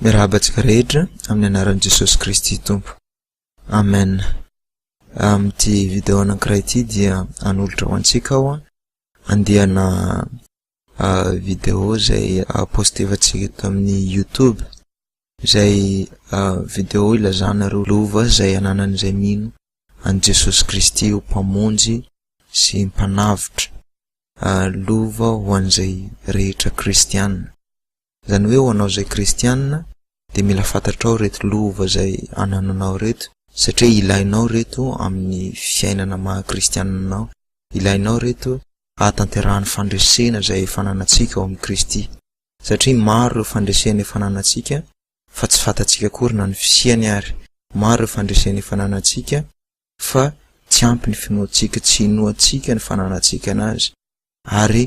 Miarahaba antsika rehetra amin'ny anaran'i Jesosy Kristy Tompo. Amen. Amin'ity video anankiray ity dia hanolotra ho antsika aho andiana video izay postevantsika eto amin'ny YouTube izay video ilazana ireo lova izay ananan'izay mino an'i Jesosy Kristy ho mpamonjy sy mpanavotra. Lova ho an'izay rehetra kristiana. Izany hoe ho anao izay kristianina dia mila fantatrao ireto lova izay anananao ireto satria ilainao ireto amin'ny fiainana maha kristianina anao. Ilainao ireto hahatanterahan'ny fandresena izay efa ananantsika ao amin'i Kristy. Satria maro ireo fandresena efa ananantsika fa tsy fantatsika akory na ny fisiany ary. Maro ireo fandresena efa ananantsika fa tsy ampy ny finoantsika, tsy inoantsika ny fananantsika an'Azy, ary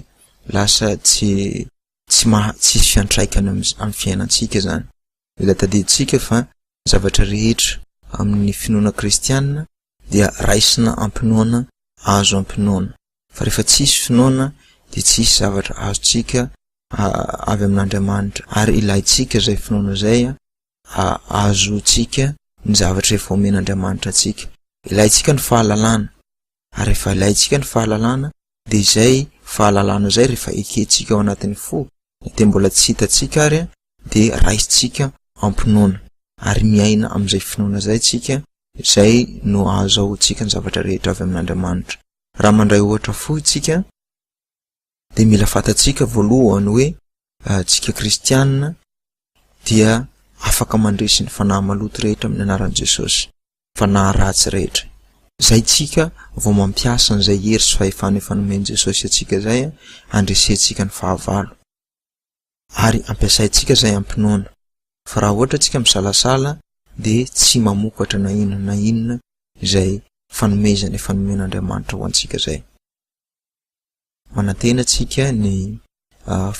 lasa tsy tsy maha tsisy fiantraikany amin'ny fiainantsika izany. Mila tadidintsika fa ny zavatra rehetra amin'ny finoana kristiana dia raisina am-pinoana, azo am-pinoana. Fa rehefa tsisy finoana dia tsisy zavatra azontsika avy amin'Andriamanitra, ary ilaintsika izay finoana izay hahazoantsika ny zavatra efa omen'Andriamanitra antsika. Ilaintsika ny fahalalana, ary rehefa ilaintsika ny fahalalana dia izay fahalalana izay rehefa ekentsika ao anatin'ny fo na dia mbola tsy hitantsika ary dia raisintsika am-pinoana, ary miaina amin'izay finoana izay isika, izay no ahazahoantsika ny zavatra rehetra avy amin'Andriamanitra. Raha mandray ohatra fohy isika. dia mila fantatsika voalohany hoe tsika kristianina dia afaka mandresy ny fanahy maloto rehetra amin'ny anaran'i Jesosy, fanahy ratsy rehetra. Zay tsika vao mampiasa an'izay hery sy fahefana efa nomen'i Jesosy antsika zay handresentsika ny fahavalo. Ary ampiasaintsika zay am-pinoana. Fa raha ohatra tsika misalasala dia tsy mamokatra na inona na inona izay fanomezana efa nomen'Andriamanitra ho antsika zay. Manantena antsika ny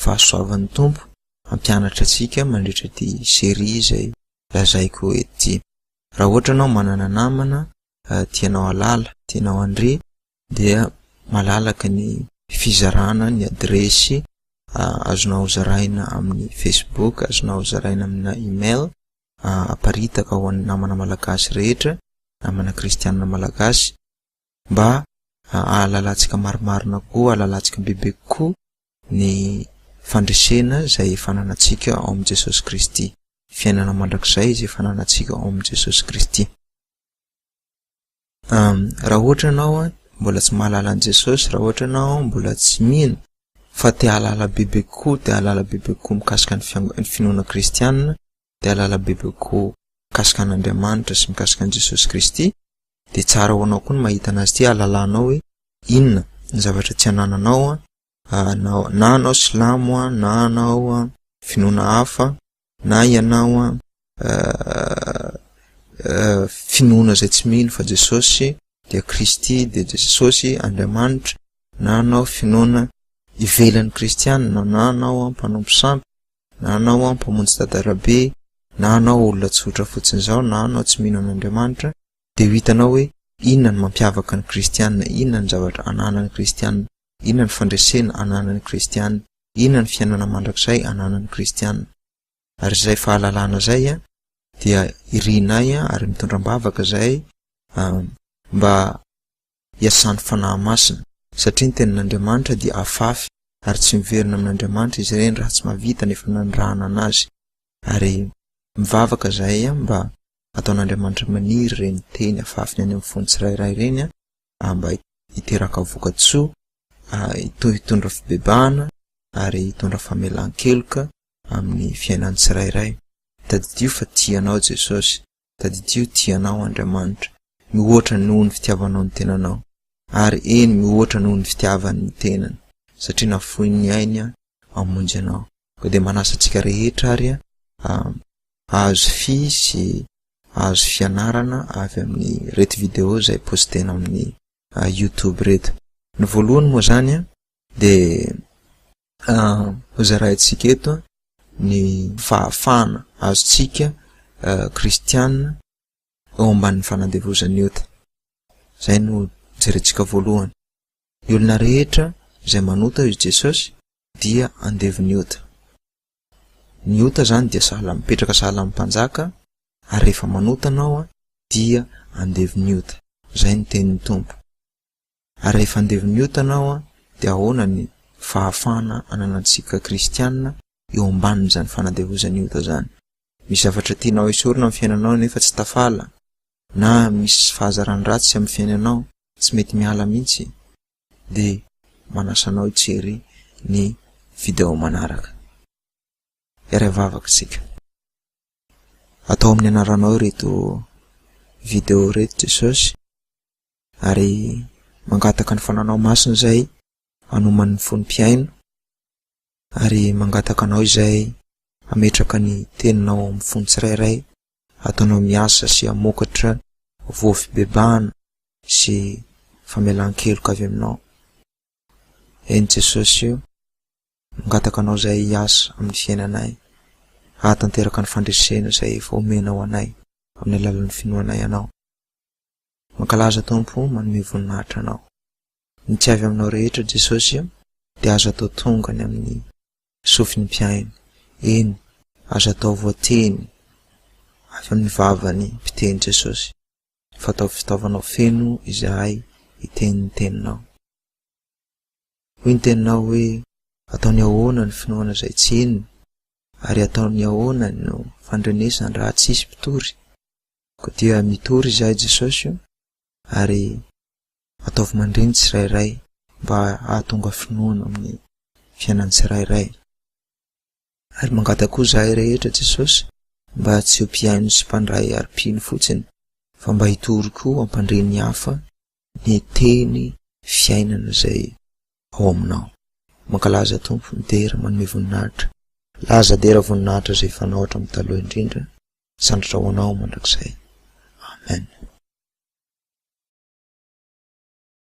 fahasoavan'ny Tompo hampianatra antsika mandritra ity serie izay lazaiko eto ity. Raha ohatra ianao manana namana tianao hahalala, tianao handre dia malalaka ny fizarana ny adiresy azonao zaraina amin'ny Facebook, azonao zaraina amina email, aparitaka ho an'ny namana malagasy rehetra, namana kristianina malagasy. mba ahalalantsika marimarina koa, ahalalantsika bebe kokoa ny fandresena izay efa ananantsika ao amin'i Jesosy Kristy, fiainana mandrakizay izay efa ananantsika ao amin'i Jesosy Kristy. Raha ohatra ianao mbola tsy mahalala an'i Jesosy, raha ohatra ianao mbola tsy mino fa te-hahalala bebe kokoa, te-hahalala bebe kokoa mikasika ny finoana kristianina, dia ahalala bebe kokoa mikasika an'Andriamanitra sy mikasika an'i Jesosy Kristy, dia tsara ho anao koa ny mahita an'Azy ity hahalalanao hoe inona ny zavatra tsy anananao na anao silamo na anao finoana hafa na ianao finoana izay tsy mino fa Jesosy dia Kristy dia Jesosy Andriamanitra na anao finoana ivelan'ny Kristianina na anao mpanompo sampy na anao aho mpamonjy dadarabe, na anao olona tsotra fotsiny izao, na anao tsy mino an'Andriamanitra, dia ho hitanao hoe inona no mampiavaka ny kristiana, inona ny zavatra ananan'ny kristiana, inona ny fandresena ananan'ny kristiana, inona ny fiainana mandrakizay ananan'ny kristiana. Ary izay fahalalana izay dia irinay ary mitondra am-bavaka izay mba iasan'ny Fanahy Masina. Satria ny Tenin'Andriamanitra dia afafy ary tsy miverina amin'Andriamanitra izy ireny raha tsy mahavita ny efa nanirahana an'azy. Ary mivavaka izahay mba hataon'Andriamanitra maniry ireny teny afafiny any amin'ny fon'ny tsirairay ireny mba hiteraka vokatsoa, hitondra fibebahana ary hitondra famelan-keloka amin'ny fiainan'ny tsirairay. Tadidio fa tia anao Jesosy. Tadidio tia anao Andriamanitra mihoatra noho ny fitiavanao ny tenanao, ary eny mihoatra noho ny fitiavany ny tenany, satria nafoiny ny ainy hamonjy anao. Koa dia manasa antsika rehetra ary hahazo fy sy hahazo fianarana avy amin'ny reto video izay postena amin'ny youtube reto. Ny voalohany moa izany dia Hozaraintsika eto ny fahafahana azontsika kristiana eo ambanin'ny fanandevozan'ny ota. Izay no jerentsika voalohany. Ny olona rehetra izay manota hoy Jesosy dia andevon'ny ota. Ny ota izany dia sahala mipetraka sahala amin'ny mpanjaka ary rehefa manota ianao dia andevon'ny ota. Izay ny tenin'ny Tompo. Ary rehefa andeha ho niota anao an, dia ahoana ny fahafahana ananantsika kristiana eo ambanin'izany fanandevozan'ny ota izany? Misy zavatra tianao esorina amin'ny fiainanao nefa tsy tafala? Na misy fahazarana ratsy amin'ny fiainanao tsy mety miala mihitsy? Dia manasa anao hijery ny video manaraka. Hiara hivavaka isika. Atao amin'ny anaranao ireto video ireto Jesosy. ary mangataka ny fananao masina izay hanoman' ny fony mpihaino, ary mangataka anao izay hametraka ny teninao ao amin'ny fony tsirairay, ataonao miasa sy hamokatra voa fibebahana sy famelan-keloka avy aminao. Eny Jesosy o, mangataka anao izay hiasa amin'ny fiainanay, hahatanteraka ny fandresena izay efa omenao anay amin'ny alalan'ny finoanay anao. Mankalaza Tompo manome voninahitra anao. Ny tsy avy aminao rehetra Jesosy o dia aza atao tonga any amin'ny sofin'ny mpihaino, eny aza atao voateny avy amin'ny vavan'ny mpiteny Jesosy fa ataovy fitaovanao feno izahay hiteny ny teninao. Hoy ny teninao hoe ataony ahoana ny finoana izay tsy henony ary ataony ahoana no fandrenesany raha tsisy mpitory? Koa dia mitory izahay Jesosy o ary ataovy mandre ny tsirairay mba hahatonga finoana amin'ny fiainan'ny tsirairay. Ary mangataky koa izahay rehetra Jesosy mba tsy ho mpihaino sy mpandray ary mpino fotsiny fa mba hitory koa hampandre ny hafa ny teny fiainana izay ao aminao. Mankalaza Tompo, midera, manome voninahitra. Laza, dera, voninahitra izay fanao hatramin'ny taloha indrindra Sandratra ho anao mandrakizay. Amen.